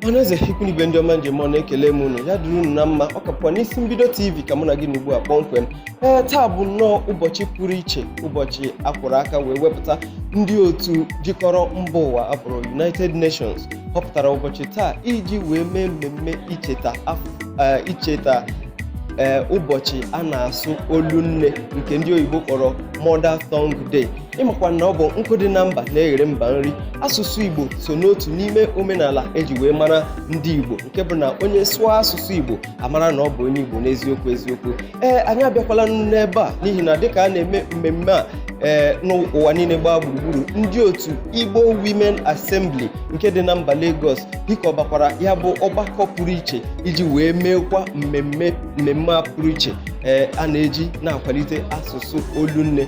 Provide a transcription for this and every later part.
ọhaneze ikwu na ibe ndị ọma m ji eme ọnụ ekele m unu ya dịrị unu na mma ọ ka bụkwa n'isi mbido tv ka mụ na gị nọ ugbu a kpọmkwem ee taa bụ nnọọ ụbọchị pụrụ iche ụbọchị akwụrụ aka wee wepụta ndị otu jikọrọ mba ụwa abụrụ united nations họpụtara ụbọchị taa iji wee mee mmemme icheta icheta ee ụbọchị a na-asụ olu nne nke ndị oyibo kpọrọ mother tongue day ịmakwa na ọ bụ nkụ dị na mba na-eghere mba nri asụsụ igbo so n'otu n'ime omenala eji wee mara ndị igbo nke bụ na onye sụọ asụsụ igbo amara na ọ bụ onye igbo n'eziokwu eziokwu ee anyị abịakwala n'ebe a n'ihi na dịka a na-eme mmemme a ee n'ụwa niile gbaa gburugburu ndị otu igbo women assembly nke dị na mba lagos hikọbakwara ya bụ ọgbakọ pụrụ iche iji wee meekwa mmemme mmemme a pụrụ iche ee a na-eji na-akwalite asụsụ olu nne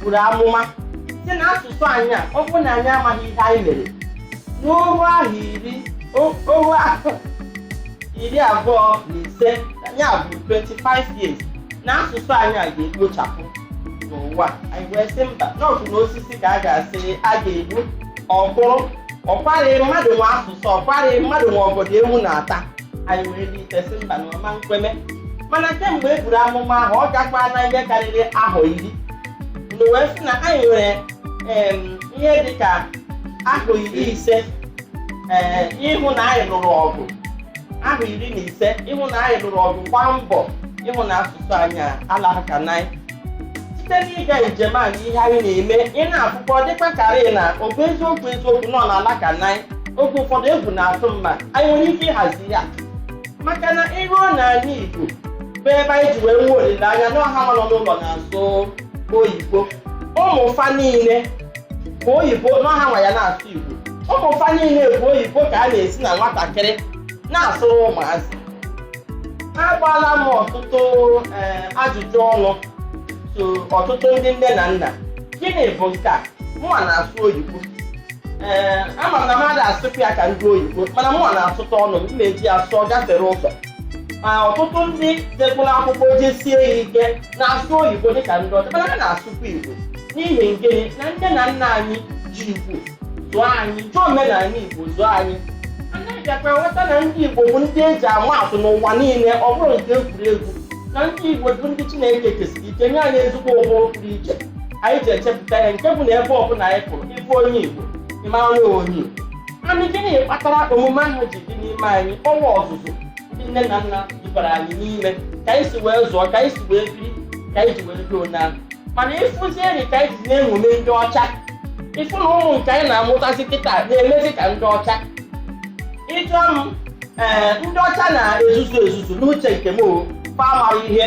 buru amụma sị na asụsụ anyị a ọ bụrụ na anyị amaghị ihe anyị mere n'ohu ahọ iri o- ohu ahọ iri abụọ na ise nya bụ 25 years na asụsụ anyị a ga-ekpochapụ n'ụwa anyị wee sị mba n'ọbụ na osisi ka a ga-asị a ga-egbu ọ kwụrụ ọkwarị mmadụ nwe asụsụ ọkwarị mmadụ nwe obodo ewu na-ata anyị wee bilite sị mba na ọ ma nkwe mee mana kemgbe e buru amụma ahụ ọ gakwa na ihe karịrị ahọ iri mgbe wee sị na anyị nwere em, ihe dị ka ahọ iri ise ee ịhụ na anyị lụrụ ọgụ ahọ iri na ise ịhụ na anyị lụrụ ọgụ gbaa mbọ ịhụ na asụsụ anyị alaghaka na anyị site n'ịga njem a na ihe anyị na-eme ị na-ahụkwa ọ dịkwa karị na ọ bụ eziokwu eziokwu na ọ na-alaka na anyị oge ụfọdụ egwu na-atụ mmadụ anyị nwere ike ịhazi ya maka na iruo n'ala Igbo bụ ebe anyị ji wee nwee olileanya na ọha nọ n'ụlọ na-asụ oyibo ụmụ fa niile bụ oyibo na ọ hanwa ya na-asụ Igbo ụmụ fa niile bụ oyibo ka a na-ezi na nwatakịrị na-asụrụ ụmụazị agbaala m ọtụtụ eh, ajụjụ ọnụ sị ọtụtụ ndị nne na nna gịnị bụ nke a mụnwa na-asụ oyibo ee ama m na m ada asụpụ ya ka ndị oyibo mana mụnwa na-asụtụ ọnụ m na-eji ya sụọ gafere ụzọ ma ọtụtụ ndị jekwara akwụkwọ jesie ya ike na-asụ oyibo dịka ndị ọcha mana ha na-asụkwa igbo n'ihi ngịnị na nne na nna anyị ji igbo zụọ anyị ji omenala igbo zụọ anyị anyị bịakwa ghọta na ndị igbo bụ ndị eji ama atụ n'ụwa niile ọ bụrọ nke egwuregwu na ndị igbo bụ ndị chineke kesiri ike nye anyị ezigbo ụbụrụ pụrụ iche anyị ji echepụta ihe nke bụ na ebe ọbụla anyị pụrụ ịbụ onye Igbo ịma na onye Igbo anyị gịnị kpatara omume ahụ ji dị n'ime anyị ọnwa ọzụzụ ndị nne na nna dubara anyị n'ime ka anyị si wee zụọ ka anyị si wee biri ka anyị ji wee biri onye ahụ mana ịfụzi eri ka anyị ji na-eṅomi ndị ọcha ịfụ na ụmụ nke anyị na-amụtazi kịta na-emezi ka ndị ọcha ịjụọ m ee ndị ọcha na-ezuzu ezuzu n'uche nke m o fa amarọ ihe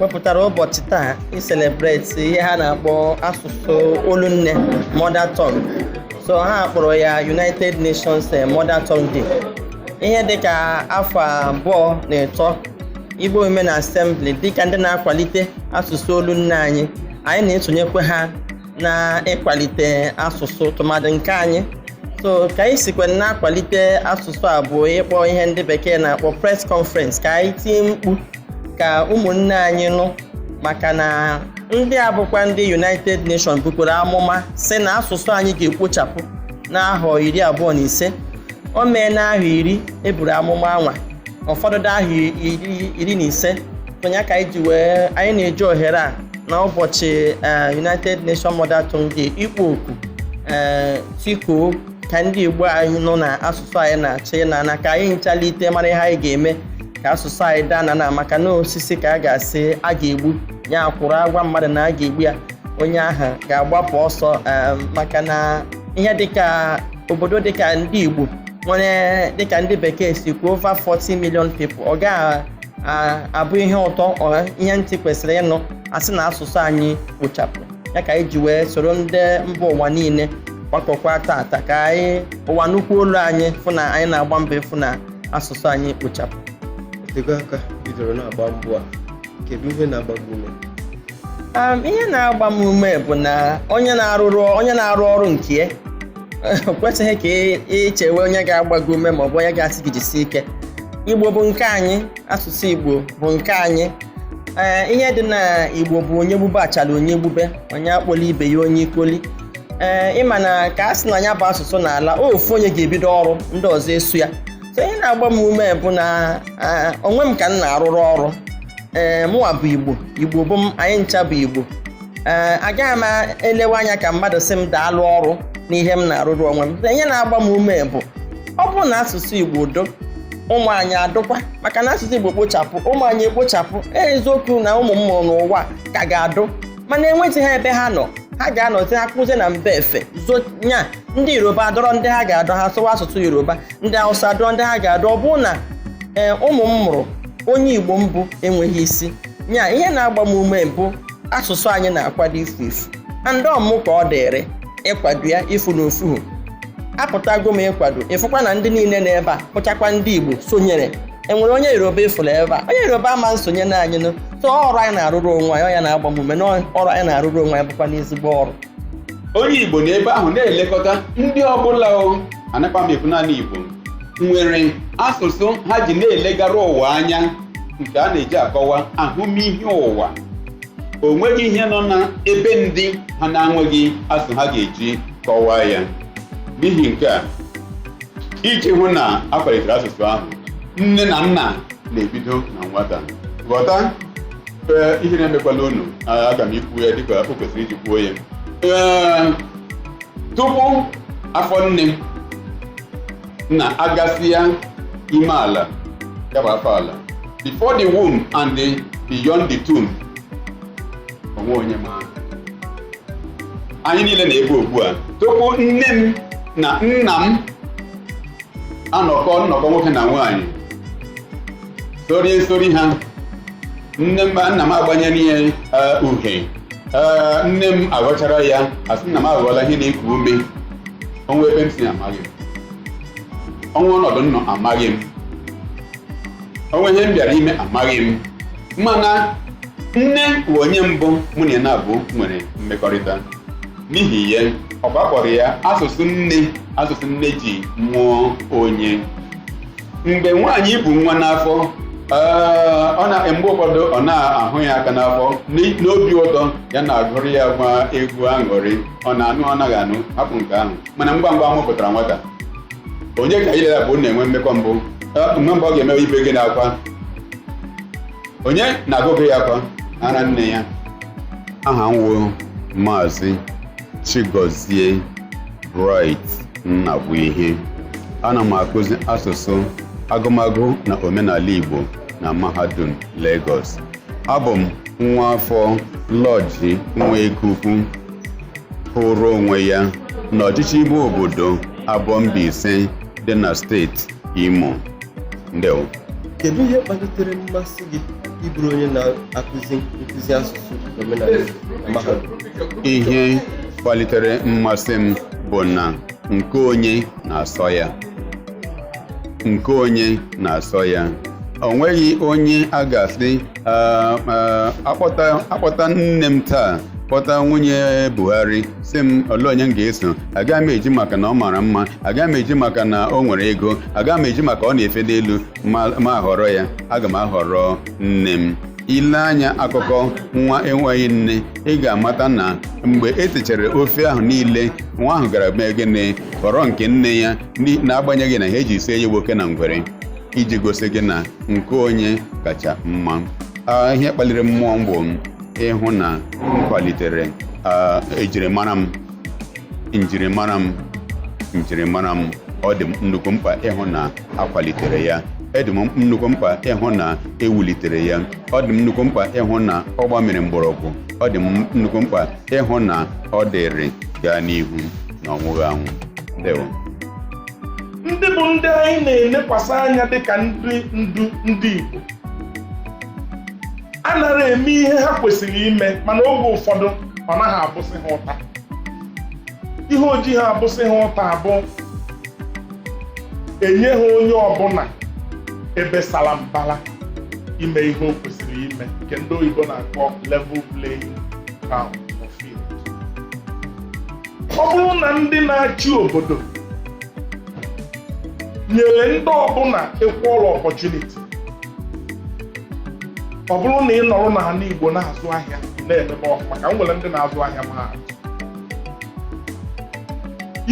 wepụtara ụbọchị taa iselebreti ihe ha na-akpọ asụsụ olunne mother tongue so ha kpọrọ ya United Nations eh, Mother Tongue Day ihe dịka afọ abụọ na ịtọ Igbo Women Assembly dịka ndị na-akwalite asụsụ olunne anyị anyị na-esonyekwa ha na ịkwalite asụsụ tụmadị nke anyị so ka anyị sikwa na-akwalite asụsụ a bụ ịkpọ ihe ndị bekee na-akpọ press conference ka anyị tie mkpu ka ụmụnne anyị nụ maka na ndị a bụkwa ndị United Nations bukwara amụma sị na asụsụ anyị ga-ekpochapụ n'ahọ iri abụọ na ise o meena ahọ iri eburu amụma anwa ọ fọdụrụ ahọ iri na ise ọ nya ka anyị ji wee anyị na-eji ohere a na ụbọchị eh, United Nations Mother Tongue Day ịkpọ oku eh, tikuo ka ndị Igbo anyị nụ na asụsụ anyị na-achọ ịna na ka anyị ncha lite mara ihe anyị ga-eme ka asụsụ anyị daa na na maka na osisi ka a ga-asị a ga-egbu ya kwụrụ a gwa mmadụ na a ga-egbu ya onye ahụ ga-agbapụ ọsọ eh, maka na ihe dịka obodo dịka ndị Igbo nwere dịka ndị bekee si kwuo over 40 million people ọ gaghị abụ ihe ụtọ ihe ntị kwesịrị ịnụ a sị na asụsụ anyị kpochapụ ya ka anyị ji wee soro ndị mba ụwa niile gbakọkwa tata ka anyị ụwa nụkwuo olu anyị fụ na anyị na-agba mbọ ịfụ na asụsụ anyị kpochapụ o tego aka i bidoro na-agba mbọ a kedu ihe na-agba gị ume ihe na-agba m ume bụ na onye na-arụrụ onye na-arụ ọrụ nke ya o kwesịghị ka i chewe onye ga-agba gị ume maọbụ onye ga-asị gị jisi ike igbo bụ nke anyị asụsụ igbo bụ nke anyị ee ihe dị na igbo bụ onye gbube achala onye gbube onye akpọla ibe ya onye ikoli ee ịma na ka a sị na ya bụ asụsụ na-ala ofu onye ga-ebido ọrụ ndị ọzọ eso ya so ihe na-agba m ume bụ na onwe m ka m na-arụrụ ọrụ ee mụwa bụ igbo igbo bụ m anyị ncha bụ igbo ee agaghị m elewe anya ka mmadụ sị m daalụ ọrụ n'ihe m na-arụrụ onwe m ihe na-agba m ume bụ ọ bụrụ na asụsụ Igbo dụ ụmụ anyị adụkwa maka na asụsụ Igbo kpochapụ ụmụ anyị ekpochapụ eziokwu na ụmụ m mụrụ n'ụwa ka ga-adụ mana enweghị ha ebe ha nọ ha ga-anọzi ha kụzie na mba efe zonya ndị yoruba adọrọ ndị ha ga-adọ ha sụwa asụsụ yoruba ndị hausa adọrọ ndị ha ga-adọ ọ bụrụ na ee eh, ụmụ m mụrụ onye igbo m bụ enweghị isi nya ihe na-agba m ume bụ asụsụ anyị na-akwado ifu ifu and ọ mụ ka ọ dịrị ịkwado ya ịfụ na o fuhu apụtago m ịkwado ịfụkwa na ndị niile na ebe a bụchakwa ndị Igbo sonyere e nwere onye yoruba ị fụrụ ebe a onye yoruba ama nsonye na anyị so ọrụ anyị na-arụrụ onwe anyị ọ nya na-agba m ume na ọrụ anyị na-arụrụ onwe anyị bụkwanụ ezigbo ọrụ onye igbo na ebe ahụ na-elekọta ndị ọbụla anakwa m ekwu naanị igbo nwere asụsụ ha ji na-elegara ụwa anya nke a na-eji akọwa ahụmihe ụwa o nweghị ihe nọ na ebe ndị ha na-enweghị asụsụ ha ga-eji kọwaa ya n'ihi nke a iji hụ na a kwalitere asụsụ ahụ nne na nna na-ebido na nwata ghọta ee ihere emekwala unu aga m ikwu ya dịka o kwesịrị iji kwuo ya ee tupu afọ nne na a gasịa ime ala ya bụ afọ ala before the womb and beyond the tomb o nwe onye ma anyị niile nọ ebe ugbu a tupu nne m na nna m anọkọ nnọkọ nwoke na nwaanyị sorie nsori ha nne m nna m agbanyere ya eh, uhe Eh, nne m aghọchara ya asị nna m aghọọla ihe na-eku ume o nwe ebe m si amaghị o nwe ọnọdụ m nọ amaghị m o nwe ihe m bịara ime amaghị m mana nne bụ onye mbụ mụ na ya naabụ nwere mmekọrịta n'ihi ya ka a kpọrọ ya asụsụ nne asụsụ nne ji mụọ onye mgbe nwaanyị bu nwa n'afọ ee, ọ na mgbe ụfọdụ ọ na-ahụ ya aka n'afọ n'i- n'obi ụtọ ya na-agụrụ ya nwa egwu aṅụrị ọ na-anụ ọ naghị anụ hapụ nke ahụ mana ngwa ngwa a mụpụtara nwata onye ka ya la ya laabụ na-enwe mmekọ mbụ mgbe mbụ ọ ga-emewe ibe gịnị akwa onye na-agụgụ ya ọ kwa ara nne ya aha m wụ maazị Chigozie Bright Nnabuihe ana m akụzi asụsụ agụmagụ na omenala Igbo na mahadum Lagos abụ m nwa afọ Lọji Nwekeukwu kwụrụ onwe ya n'ọchịchị ime obodo Abọ Mbaise dị na steeti Imo ndewo kedu ihe kpalitere mmasị gị ịbụrụ onye na-akụzi nkụzi asụsụ omenala na mahadum ihe kpalitere mmasị m bụ na nke onye na-asọ ya nke onye na-asọ ya o nweghị onye a ga-asị "Ah, ah, akpọta akpọta nne m taa kpọta nwunye Buhari sị m olee onye m ga-eso agaghị m eji maka na ọ mara mma agaghị m eji maka na o nwere ego agaghị m eji maka ọ na-efe n'elu m ahọrọ ya aga m ahọrọ nne m i lee anya akụkọ nwa enweghị nne ị ga-amata na mgbe e techara ofe ahụ niile nwa ahụ gara mee gịnị họrọ nke nne ya n'agbanyeghị na ihe e ji sie ya bụ oke na ngwere iji gosi gị na nke onye kacha mma Ah, ihe kpaliri mmụọ m bụ ịhụ na m kwalitere ah, ejirimara m njirimara m njirimara m ọ dị m nnukwu mkpa ịhụ na a kwalitere ya ọ dị m nnukwu mkpa ịhụ na e wulitere ya ọ dị m nnukwu mkpa ịhụ na ọ gbamiri mgbọrọgwụ ọ dị m nnukwu mkpa ịhụ na ọ dịrị gaa n'ihu na ọ nwụghị anwụ ndewo ndị bụ ndị anyị na-elekwasị anya dịka ndị ndu ndị Igbo anara eme ihe ha kwesịrị ime mana oge ụfọdụ ọ naghị abụsị ha ụta ihe o jiha abụsị ha ụta bụ enyeha onye ọbụla ebe sara mbara ime ihe o kwesịrị ime nke ndị oyibo na-akpọ level playing field ọ bụrụ na ndị na-achị obodo nyere ndị ọbụla equal opportunity ọ bụrụ na ị nọrọ n'ala Igbo na-azụ ahịa na-emebe ọfụma ka m were ndị na-azụ ahịa maa atụ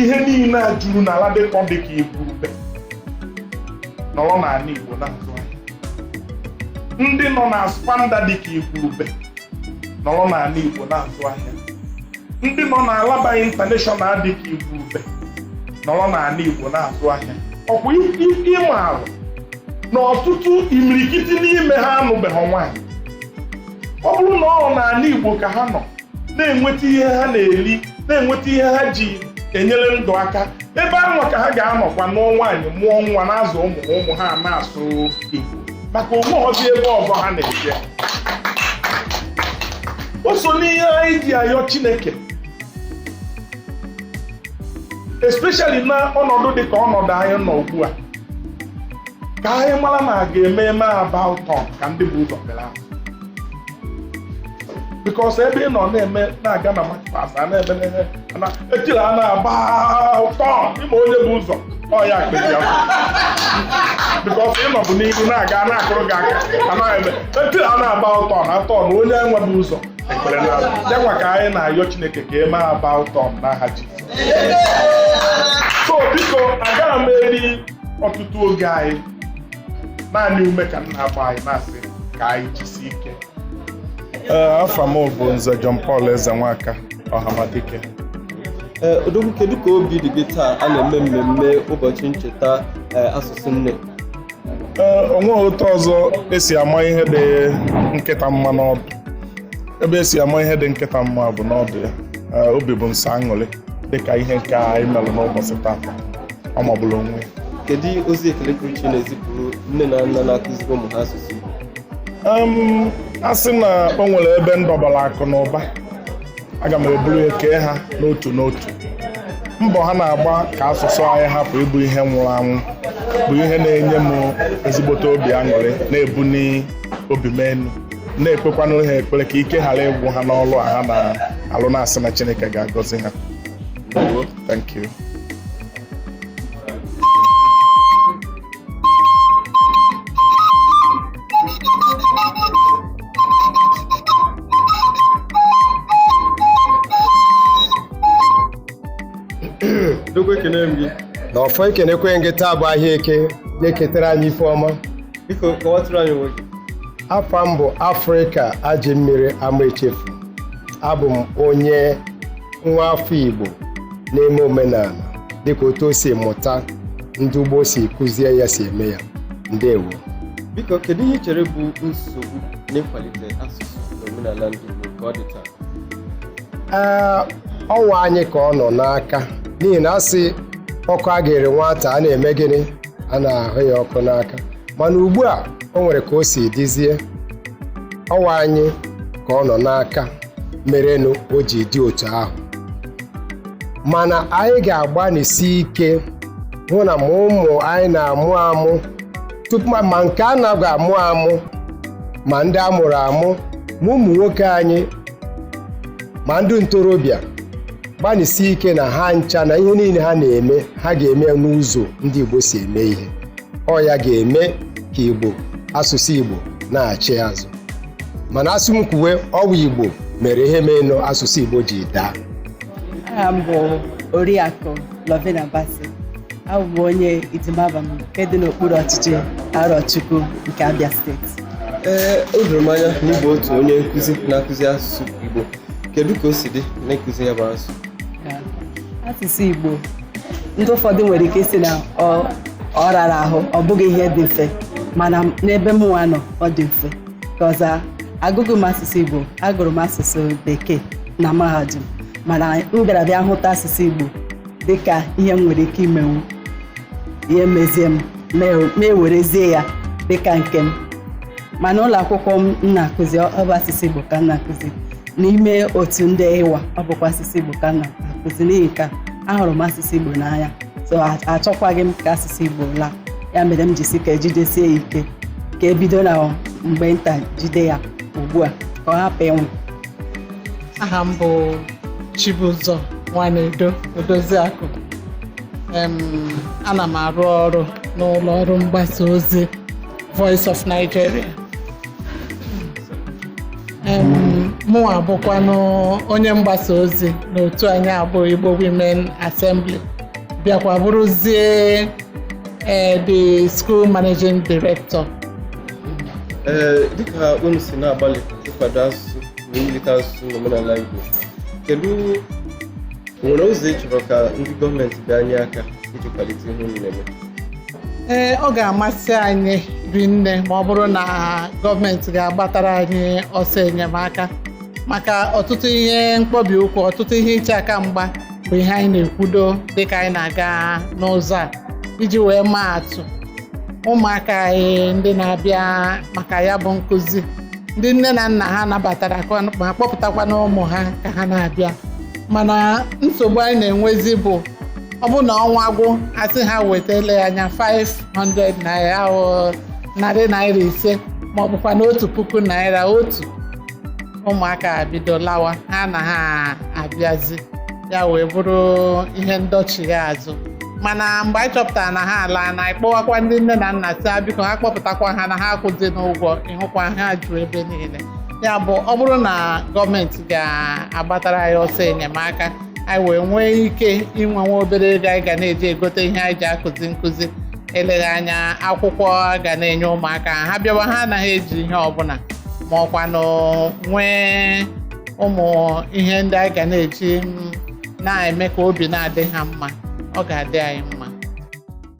ihe niile a juru na Ladipo dị ka igwurube nọrọ n'ala Igbo na-azụ ahịa ndị nọ na ASPAMDA dị ka igwurube nọrọ n'ala Igbo na-azụ ahịa ndị nọ na Alaba International dị ka igwurube nọrọ n'ala igbo na-azụ ahịa ọkwa ị maarụ na ọtụtụ imirikiti n'ime ha anụbeghị nwaanyị ọ bụrụ na ọ n'ala igbo ka ha nọ na-enweta ihe ha na-eri na-enweta ihe ha ji enyere ndụ aka ebe anwa ka ha ga-anọkwa nụọ nwaanyị mụọ nwa na-azụ ụmụ ụmụ ha na-asụ igbo maka o nwehọzi ebe ọzọ ha na-eje o so n'ihe anyị ji ayọ Chineke especially na ọnọdụ dị ka ọnọdụ anyị nọ ugbu a ka anyị mara na a ga-eme eme about turn ka ndị bu ụzọ belata because ebe ị nọ na-eme na-aga na march past a na-eme na-eme ana etiri a na-agba turn ịma onye bu ụzọ ọ ya kpezi ya because ị nọbu n'ihu na-aga na-akụrụ gị aka a na-eme etiri a na-agba turn na turn onye nwa bu ụzọ ekpere na ya nwa ka anyị na-ayọ chineke ka e mee about turn n'aha Jesus so biko agaghị m eri ọtụtụ oge anyị naanị ume ka m na-agba anyị na-asị ka anyị jisi ike eh, afa m bụ nze John Paul Ezenwaka Ọhamadike eh, odogwu kedu ka obi dị gị taa a na-eme mmemme ụbọchị ncheta eh, asụsụ nne onweghị otu ọzọ esi ama ihe dị nkịta mma n'ọdụ ebe esi ama ihe dị nkịta mma bụ n'ọdụ ya obi bụ m sọ aṅụrị dịka ihe nke anyị mere n'ụbọchị taata ọ magburu onwe ya kedu ozi ekele pụrụ iche ị na-ezipụrụ nne na nna na-akụziri ụmụ ha asụsụ Igbo a sị na o nwere ebe m dọbara akụ na ụba aga m eburu ya kee ha n'otu n'otu mbọ ha na-agba ka asụsụ anyị hapụ ịbụ ihe nwụrụ anwụ bụ ihe na-enye m ezigbote obi aṅụrị na-ebuni obi m elu na-ekpekwanụrụ ha ekpere ka ike ghara ịgwụ ha n'ọlụ a ha na-alụ na-asị na Chineke ga-agọzi ha thank you na ọfọ ekenekwa m gị taa bụ ahịa eke ga-eketara anyị ife ọma biko kọwatụrụ anyị onwe gị afa m bụ afrịka ajị mmiri ama echefu abụ m onye nwa afọ igbo na-eme omenala dịka otu o si mụta ndị gboo si kụzie ya si eme ya ndewo biko kedu ihe i chere bụ nsogbu n'ịkwalite asụsụ na omenala ndị Igbo ka ọ dị taa ee ọ nwaanyị ka ọ nọ n'aka n'ihi na a sị ọkụ a ga-ere nwata a na-eme gịnị a na-ahụ ya ọkụ n'aka mana ugbu a o nwere ka o si dịzie ọ nwaanyị ka ọ nọ n'aka merenụ o ji dị otu ahụ mana anyị ga-agbanisi ike hụ na ma ụmụ anyị na-amụ amụ tupu ma ma nke a na-aga amụ amụ ma ndị a mụrụ amụ ma ụmụ nwoke anyị ma ndị ntorobịa gbanịsie ike na ha ncha na ihe niile ha na-eme ha ga-eme ya n'ụzọ ndị Igbo si eme ihe ọ ya ga-eme ka Igbo asụsụ Igbo nachie azụ mana asị m kwuwe ọ wụ Igbo mere ihe menụ asụsụ Igbo ji daa aha m bụ Oriakụ Lovina Bassey abụ m onye Idima Abam nke dị n'okpuru ọchịchị Arochukwu nke Abia steeti ee o doro m anya na ị bụ otu onye nkụzi na-akụzi asụsụ Igbo kedu ka o si dị n'ịkụzi ya bụ asụ asụsụ Igbo ndị ụfọdụ nwere ike ịsị na ọ rara ahụ ọ bụghị ihe dị mfe mana n'ebe m nwa nọ ọ dị mfe cause agụghị m asụsụ Igbo agụrụ m asụsụ bekee na mahadum mana m bịara bịa hụta asụsụ Igbo dịka ihe m nwere ike imenwu ihe mezie m na-ewerezie ya dịka nke m mana ụlọ akwụkwọ m na-akụzi ọ bụ asụsụ Igbo ka m na-akụzi n'ime otu ndị IWA ọ bụkwa asụsụ Igbo ka m na-akụzi n'ihi nke ahụrụ m asụsụ Igbo n'anya so achọkwaghị m ka asụsụ Igbo laa ya mere m ji sị ka e jidesie ya ike ka e bido na mgbe nta jide ya ugbu a ka ọ hapụ ịnwụ aha m bụ Chibụzọ Nwanedo Odoziakụ ana m arụ ọrụ n'ụlọ ọrụ mgbasa ozi Voice of Nigeria mụnwa bụkwanụ onye mgbasa ozi n'otu anyị a bụ Igbo Women Assembly bịakwa bụrụzie eh, the school managing director ee dịka unu si na-agbalị ịkwado asụsụ na iwulite asụsụ na omenala Igbo kedu nwere ụzọ ị chọrọ ka ndị gọọmenti bịa nye aka iji kwalite ihe unu na-eme ee ọ ga-amasị anyị rinne ma ọ bụrụ na gọọmenti ga-agbatara anyị ọsọ enyemaka maka ọtụtụ ihe mkpọbi ụkwụ ọtụtụ ihe iche aka mgba bụ ihe anyị na-ekwudo dịka anyị na-aga n'ụzọ a iji wee maa atụ ụmụaka anyị ndị na-abịa maka ya bụ nkụzi ndị nne na nna ha nabatara ka ọ- ma kpọpụtakwanụ ụmụ ha ka ha na-abịa mana nsogbu anyị na-enwezi bụ ọ bụ na ọnwa gwụ a sị ha weta eleghị anya 500 naira ọ narị naira ise ma ọ bụkwanụ otu puku naira otu ụmụaka bido lawa ha anaghị abịazi ya wee bụrụ ihe ndọchigha azụ mana mgbe anyị chọpụtara na ha alaana ị kpọwakwa ndị nne na nna sị biko ha kpọpụtakwa ha anaghị akwụzinụ ụgwọ ị hụkwa ha ju ebe niile ya bụ ọ bụrụ na gọọmenti ga-agbatara anyị ọsọ enyemaka anyị wee nwee ike inwe nwa obere ego anyị ga na-eji egote ihe anyị ji akụzi nkụzi eleghị anya akwụkwọ a ga na-enye ụmụaka ha bịawa ha anaghị eji ihe ọbụla ma ọkwanụ nwee ụmụ ihe ndị anyị ga na-eji mm, na-eme ka obi na-adị ha mma ọ ga-adị anyị mma